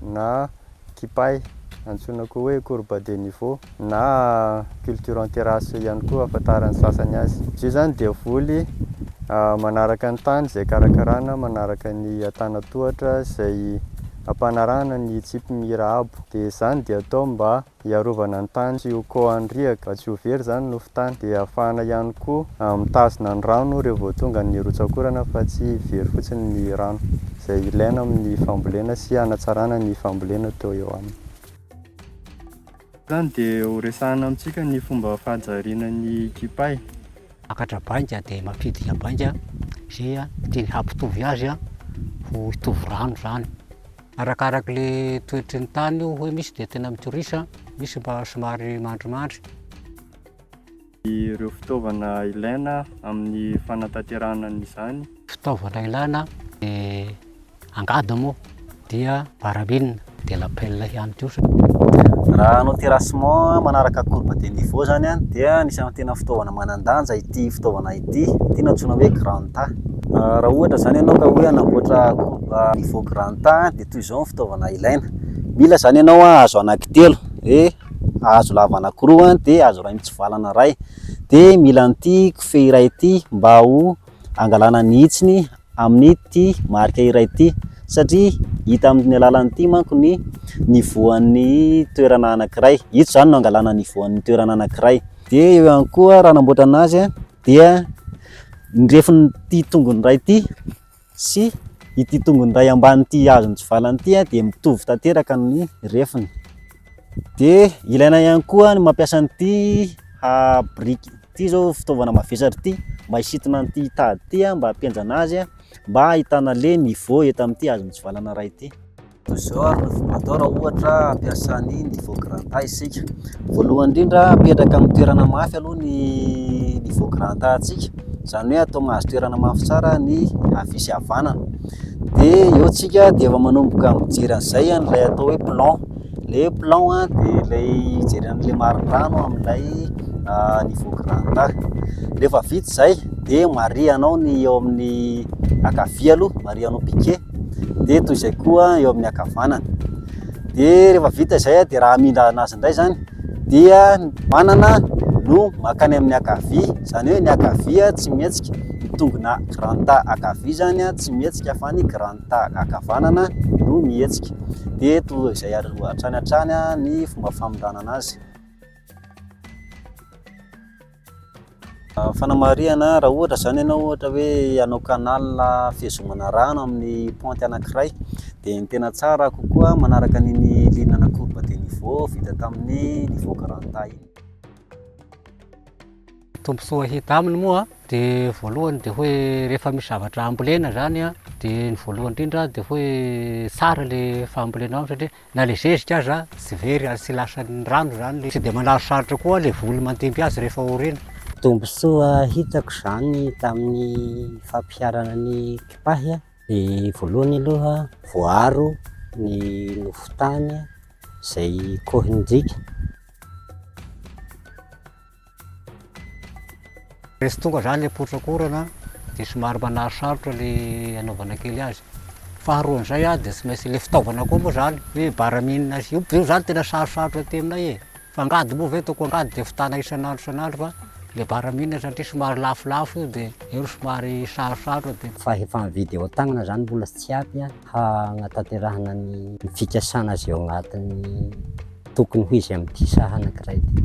na kipay, antsoina koa hoe courbe de niveau na culture en terrasse ihany koa ahafantaran'ny sasany azy. Izy io izany dia voly manaraka ny tany izay karakarana manaraka ny antanan-tohatra izay ampanarahana ny tsipy mira abo dia izany dia atao mba Hiarovana ny tany tsy ho kohan'ny riaka, mba tsy ho very izany ny nofon-tany, dia hahafahana ihany koa mitazona ny rano rehefa vao tonga ny rotsak'orana fa tsy very fotsiny ny rano izay ilaina amin'ny fambolena sy hanatsarana ny fambolena toa eo aminy. Noho izany dia horesahana amintsika ny fomba fahajariana ny kipay. Makatra bainga dia mampidina bainga izay tiany hampitovy azy ho hitovy rano izany. Arakaraky le toetry ny tany io hoe misy dia tena mitorisa, misy mba somary mandrimandry. Ireo fitaovana ilaina amin'ny fanatanterahana an'izany. Fitaovana ilaina dia angady moa dia barabine dia lapelle ihany koa. Raha hanao terrassement manaraka courbe de niveau zany dia anisan'ny tena fitaovana manan-danja ity fitaovana ity, ity no antsoina hoe grand A. Raha ohatra izany ianao ka hoe hanamboatra koba niveau grand A dia toy izao ny fitaovana ilaina, mila izany ianao hazo anankitelo, dia hazo lava anankiroa dia hazo iray mitsivalana iray, dia mila an'ity kofehy iray ity mba ho hangalana ny hitsiny amin'ity marika iray ity satria hita amin'ny alalan'ity manko ny niveau an'ny toerana anankiray, ito izany no hangalana niveau an'ny toerana anankiray, dia eo ihany koa raha hanamboatra an'azy dia ny refin'ity tongony iray ity sy ity tongony iray ambanin'ity hazo mitsivalana ity dia mitovy tanteraka ny refiny. Dia ilaina ihany koa ny mampiasa an'ity biriky ity izao fitaovana mavesatra ity mba hisintona an'ity tady ity mba hampihenjana azy mba hahitana le niveau eto amin'ity hazo mitsivalana iray ity. Toy izao ary ny fomba atao raha ohatra hampiasa ny niveau grand A isika. Voalohany indrindra, apetraka amin'ny toerana mafy aloha ny niveau grand A antsika, izany hoe atao mahazo toerana mafy tsara ny havia sy havanana. Dia eo isika dia efa manomboka mijery an'izay an'ilay atao hoe plan. Ilay hoe plan dia ilay hijery an'ilay marin-drano amin'ilay niveau grand A. Rehefa vita izay dia marihanao ny eo amin'ny ankavia aloha, marihanao piquet. dia toy izay koa eo amin'ny ankavanana. Dia rehefa vita izay dia raha hamindra anazy indray izany dia ny mpanana no makany amin'ny ankavia, izany hoe ny ankavia tsy mihetsika, ny tongona grand A ankavia izany tsy mihetsika fa ny grand A ankavanana no mihetsika. Dia toa izay hatrany hatrany ny fomba famindrana anazy. Fanamarihana, raha ohatra izany ianao ohatra hoe hanao canal fihazomana rano amin'ny pente anankiray dia ny tena tsara kokoa manaraka an'iny ligne ana courbe de niveau vita tamin'ny niveau garanta iny. Tombontsoa hita aminy moa dia voalohany dia hoe rehefa misy zavatra ambolena izany dia ny voalohany indrindra dia hoe tsara ilay fambolenao satria Na le zezika aza tsy very ary tsy lasan'ny rano zany le tsy de manarosarotra koa le voly mandimby azy rehefa orina. Tombontsoa hitako zany tamin'ny fampiharana ny kipahy de voalohany aloha voaaro ny nofon-tany zay kohin-driaka. Rehefa tonga izany ilay potrakorana dia somary manarisarotra ilay anaovana kely azy. Faharoan'izay ah, dia tsy maintsy ilay fitaovana koa moa izany, hoe baraminina sy io io izany tena sarosarotra aty aminay e. Fa angady moa ve ataoko angady dia vitana isan'andro isan'andro fa ilay baraminina satria somary lafolafo io dia io no somary sarosarotra dia. Fa efa mividy eo an-tagnana izany mbola tsy ampy an. hanatanterahana ny fikasana azy eo anatin'ny tokony ho izy amin'ity saha anankiray ity.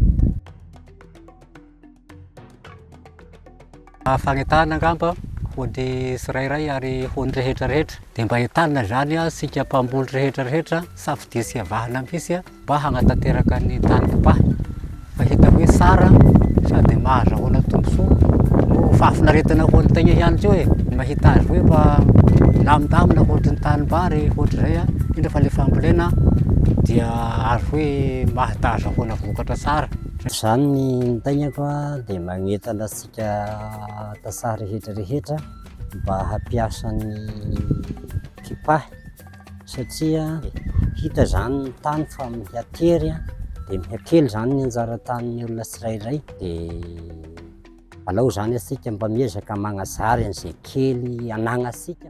fagnetahana angamba ho ny tsirairay ary ho ny rehetra rehetra dia mba entanina izany isika mpamboly rehetra rehetra safidia sy avahana mihitsy Mba hagnatanteraka ny tany kipahiny fa hita hoe tsara sady mahazahoana tombontsoa no fahafinaretana ho an'ny tegna ihany koa e ny mahita azy hoe mba milamindamina ohatry ny tanimbary ohatry izay a indrindra fa le fambolena dia azo hoe mahita ahazahoana vokatra tsara zany ny taignako a dia magnentana antsika tantsaha rehetra rehetra mba hampiasa ny kipahy satria hita izany ny tany fa miha tery dia miha kely izany ny anjara tanin'ny olona tsirairay dia alao izany antsika mba miezaka magnazary an'izay kely anagnantsika